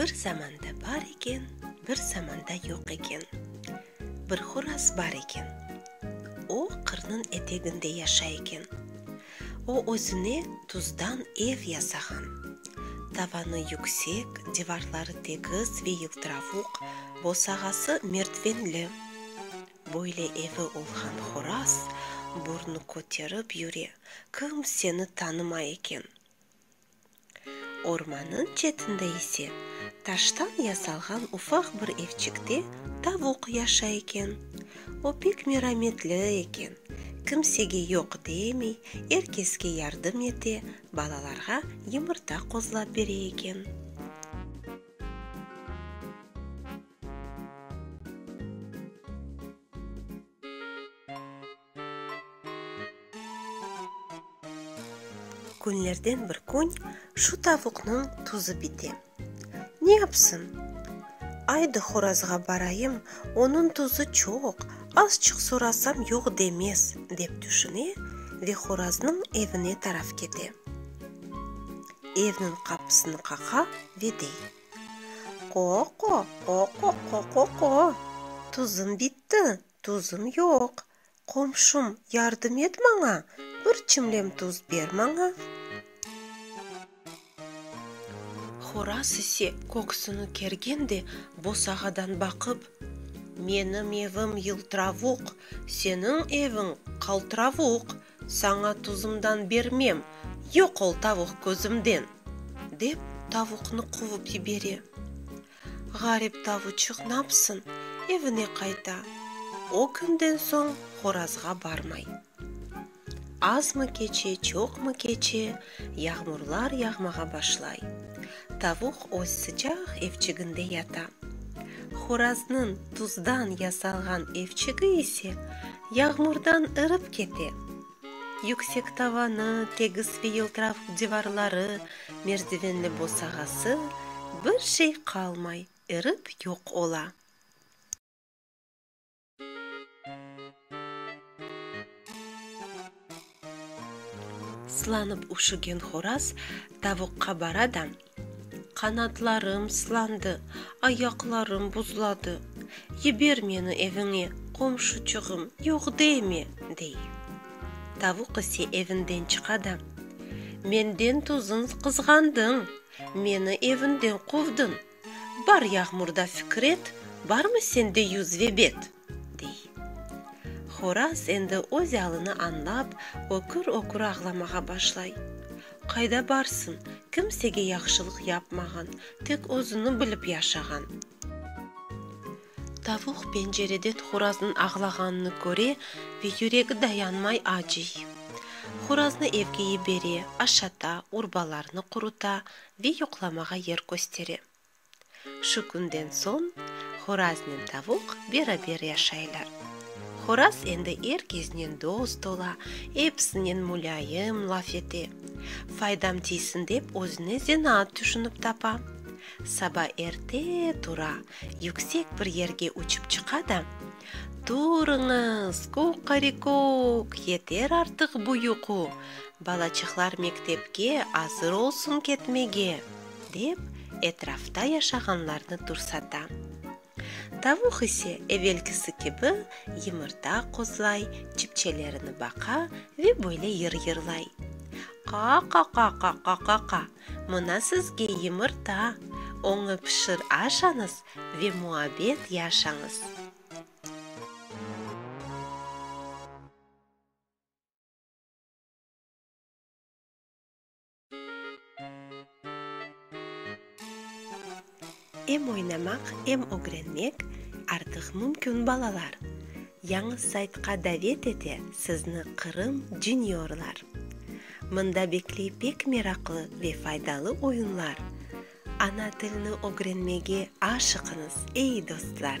Bir zamanda bar eken, bir zamanda yoq eken. Bir horaz bar eken. O, qırnıñ eteginde yaşay eken. O, özüne tuzdan ev yasağan. Tavanı yüksek, divarları tegiz ve yıltıravuq, bosağası mertvenli. Böyle evi olğan horaz burnu köterip yüre, kim seni tanımay eken. Ormannıñ çetinde ise, taştan yasalğan ufaq bir evçikte tavuq yaşay eken. O pek merametli eken, kimsege yoq demey, er keske yardım ete, balalarğa yımırta qozlap bere eken. Künlerden bir kün şu tavuqnıñ tuzı bite. Ne yapsın? Aydı horazğa barayım, onıñ tuzı çoq, azçıq sorasam yoq demez, dep tüşüne ve horaznıñ evine taraf kete. Evniñ qapısını qaqa ve dey. Qo-qo, qo-qo, qo-qo-qo. Tuzım bitti, tuzım yoq. Qomşum, yardım et maña, bir çimlem tuz ber maña. Horaz ise köksüni kergen de bosağadan baqıp, Menim evim yıltıravuq, seniñ eviñ qaltıravuq. Saña tuzımdan bermem, yoq ol tavuq közümden! dep, tavuqnı quvıp yibere. Ğarip tavuçıq napsın, evine qayta, o künden soñ horazğa barmay. Azmı keçe, çoqmı keçe, Yağmurlar yağmağa başlay. Tavuq öz sıcaq evçiginde yata. Horaznıñ tuzdan yasalğan evçigi ise yağmurdan ırıp kete. Yüksek tavanı, tegis ve yıltırav divarları, merdivenli bosağası, bir şey qalmay, erip yoq ola. Sılanıp üşügen horaz tavuqqa bara da, Qanatlarım sılandı, ayaqlarım buzladı, yiber meni eviñe, qomşuçığım, yoq deme! dey. Tavuq ise evinden çıqa da, Menden tuzunz qızğandıñ, meni evinden quvdıñ! Bar yağmurda Fikret, Barmı sende yüz ve bet? dey. Horaz endi öz alını añlap, ökür-ökür ağlamağa başlay. Qayda barsın, kimsege yahşılıq yapmağan, tek özüni bilip yaşağan. Tavuq pencereden horaznıñ ağlağanını köre ve yüregi dayanmay acıy. Horaznı evge yibere, aşata, urbalarını quruta, Ve yoqlamağa yer köstere. Şu künden soñ horaznen tavuq beraber yaşaylar. Horaz endi er keznen dost ola, episinen mulâyim laf ete. Faydam tiysin dep özüne zenaat tüşünip tapa. Saba erte tura, yüksek bir yerge uçıp çıqa da, Turıñız, kuqarikuk, yeter artıq bu yuqu! Balaçıqlar mektepke azır olsun ketmege! dep, etrafta yaşağanlarnı tursata. Tavuq ise evelkisi kibi yımırta qozlay, çipçelerini baqa ve böyle yır-yırlay, Qa-qa-qa-qa-qa-qa-qa! Mına sizge yımırta! Oñı pişir aşañız ve muabbet yaşañız! Em oynamaq, em ögrenmek artıq mümkün balalar. Yañı saytqa davet ete sizni Qırım Juniorlar. Mında bekley pek meraqlı ve faydalı oyunlar. Ana tilni ögrenmege aşıqıñız, ey dostlar!